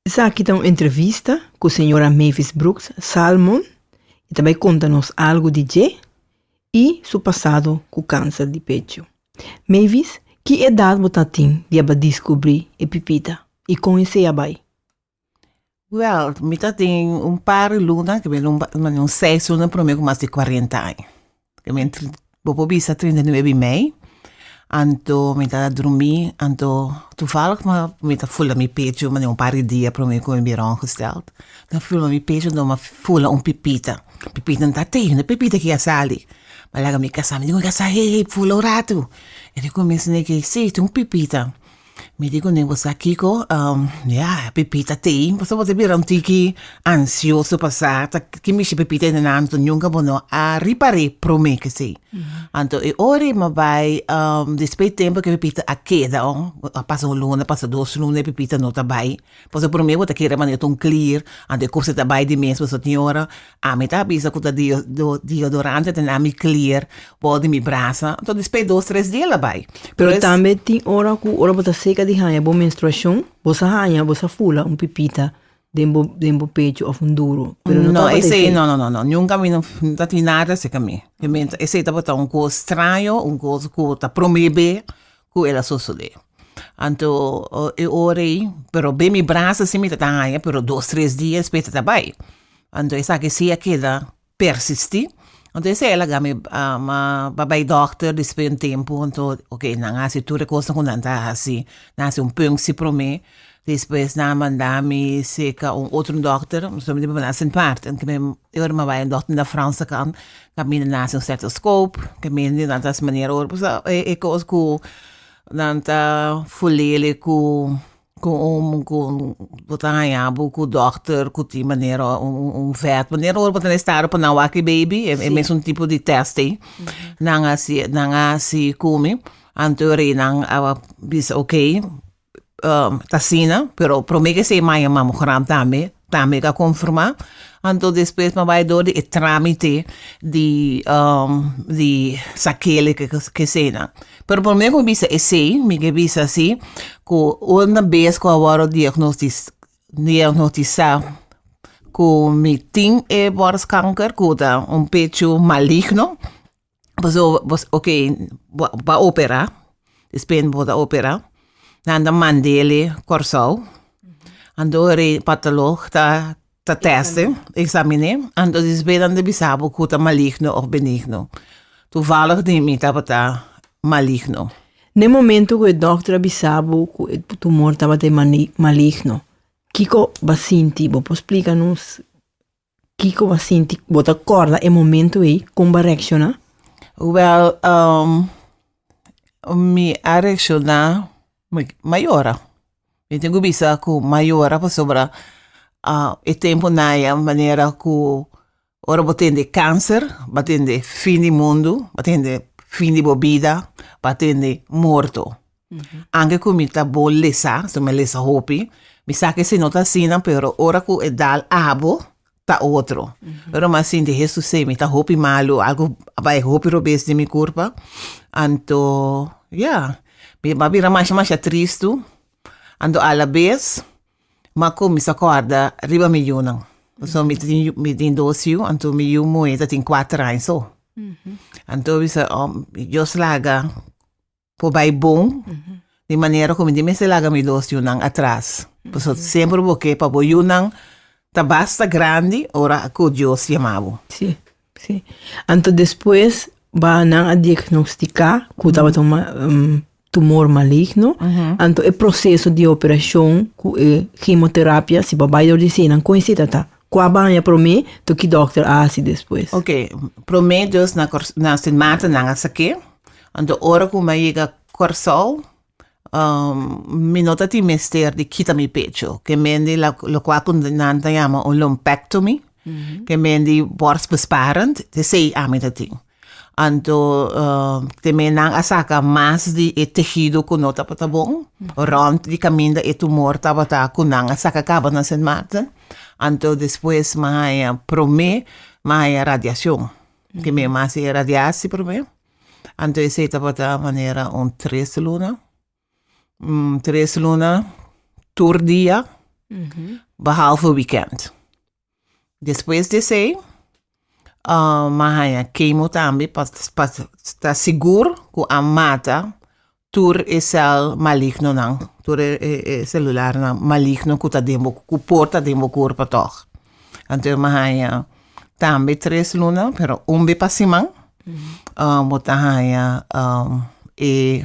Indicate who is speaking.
Speaker 1: Esaki ta un entrevista ku señora Mavis Brooks Salmon, e ta bai konta nos algu di dje i su pasado ku kanser di pecho. Mavis, ki edat bo ta tin di a bai diskubri e pipita i kon esei a bai? Wèl, mi ta tin un par di luna, ke mi a luna, un seis luna promé ku mas di kuarenta aña. Bo por bisa trinta i nuebe di mei, anto mi ta drumí, anto tuvallig mi a mi ta fula mi pechu mane'é un par di dia promé ku mi bira ongestèld, mi a fula mi pechu anto mi a fula un pipita, pipita no ta tei, no e pipita ki a sali, mi a laga mi kasá, mi dikun mi kasá, hei hei fula un ratu, e di kuminsha ne'e ke, sí, tin un pipita, Mi di kuné bo sa kiko? Ya, Pepita tei, pasobra bo ta bira un tiki ansioso pa sa ki mishi Pepita ene nan, anto nunka bo no a ripar'é promé kesei. Anto e ora e bai, despues e tempu ku Pepita a keda, a pasa un luna, a pasa dos luna i Pepita no ta bai. Pues e prome bo ta kere manera tun clear anto e cose ta bay di mes pues señora ami ta bisa cu ta deodorante ta na mi clear por di mi brasa anto despe dos tres dia la bay pero tambe tin ora cu ora bo ta seca di haya bo menstruacion bo sa haya bo sa fula un pipita den bo den bo pecho of un duro pero no tabata esey no no no nunca mi no ta tin nada esey ca mi esey tabata un cos straño un cos cu ta prome be. ku el a sosodé. Anto e ora ei, pero be mi brasa si mi ta ta haña, pero dos tres dia spes ta ta bai. Anto esaki si a keda persistí, anto esei a laga mi pa bai dòkter despues di un tempu, anto ok nan a hasi tur e kosnan ku nan ta hasi, nan hasi un pungsi promé, Despues nan a manda mi cerca un otro dokter, mi solamente por manda Sint Maarten, ke men e ora mi a bai un dokter na Franse kan, ku a mira nan hasi un stetoskop, ke men di nan ta hasi manera ora, pasobra e kos ku nan ta fulele ku bo ta haña bo ku dokter ku tin manera un vèt, manera ora bo ta na estado pa nan wak e baby, e mesun tipo di tèst ei, nan a hasi, nan a hasi ku mi, anto e rei nan a bisa, ok. t'asina, pero prome ke se maña mamo gram tambe, tambe ta konformá, anto despues pa bai dor di e trámite di di sa kele ke keseinan. Pero prome ku mi bisa esei, mi ke bisa si, ku unda bes ku a wòru diagnosis diagnostisá ku mi tin e bòrskanker, ku ta un pechu maligno, Pasobra bos, ok, bo a opera, despues bo ta opera, nan ta mand'e Kòrsou, antori patolog ta tèst'e, examin'é, anto despues nan ta bisa bo ku ta maligno òf benigno. Tuvallig di mi tabata maligno. Na e momentu ku e dòkter a bisa bo ku e tumor tabata maligno, kiko bo a sinti? Bo por splika nos? Kiko bo sinti? Bo ta korda e momento ei? Kon bo a reakshoná? Wèl, mi a reakshoná, mi a yora. Mi tin ku bisa ku mi a yora pasobra e tempu naye manera ku ora bo tende e kanser, bo a tende fin di mundu, bo a tende fin di bo bida, bo a tende morto. Anke ku mi ta bo lesa, so mi a lesa hopi, mi sa ke si no ta asina, pero ora ku e dal abo, ta otro. Pero mi a sinti Hesus sei mi ta hopi malu, algu a bai hopi robes den mi kurpa, anto ya, mi a bira masha masha tristu, anto alabes mi a kuminsa kòrda riba mi yunan. Pasobra mi tin yu, mi tin dos yu, anto mi yu muhé tatin kuater aña so. Anto mi bisa, Dios laga por bai bon di manera cu mi tin mester laga mi dos yunan atras. Pasobra semper bo ke pa bo yunan ta basta grandi ora cu Dios yama bo. Sí, sí. Anto despues ba nan a diagnostica cu tabata un ma- un tumor maligno. Anto e proceso di operacion cu e chemoterapia, si bo bai dor di esey nan con esey ta ta? Cu a baña prome, to ki dokter a haci despues? Ok, prome dus na na Sint Maarten nan a sa ke, anto ora cu mi a yega Corsou, mi no ta tin mester di kita mi pecho, ke mendi la lokua cu nan ta yama un lumpectomy, ke mendi borstbesparend, te esey ami ta tin. Anto te menan a saka mas di e tehido ku no tabata bon. Rònt di kaminda e tumor tabata ku nan a saka kaba na Sint Maarten. Anto despues mi a haña promé, mi a haña radiashon. Ke mi mas e radiasi promé. Anto esei tabata manera un tres luna. Tres luna tur dia, behalve wikènt. Despues di esei, mi a haña kemo tambe pa sta sigur ku a mata tur e sèl malignonan, tur e selularnan maligno ku ta den bo ku por ta den bo kurpo tòg. Anto mi a haña tambe tres luna, pero un be pa siman, bo ta haña e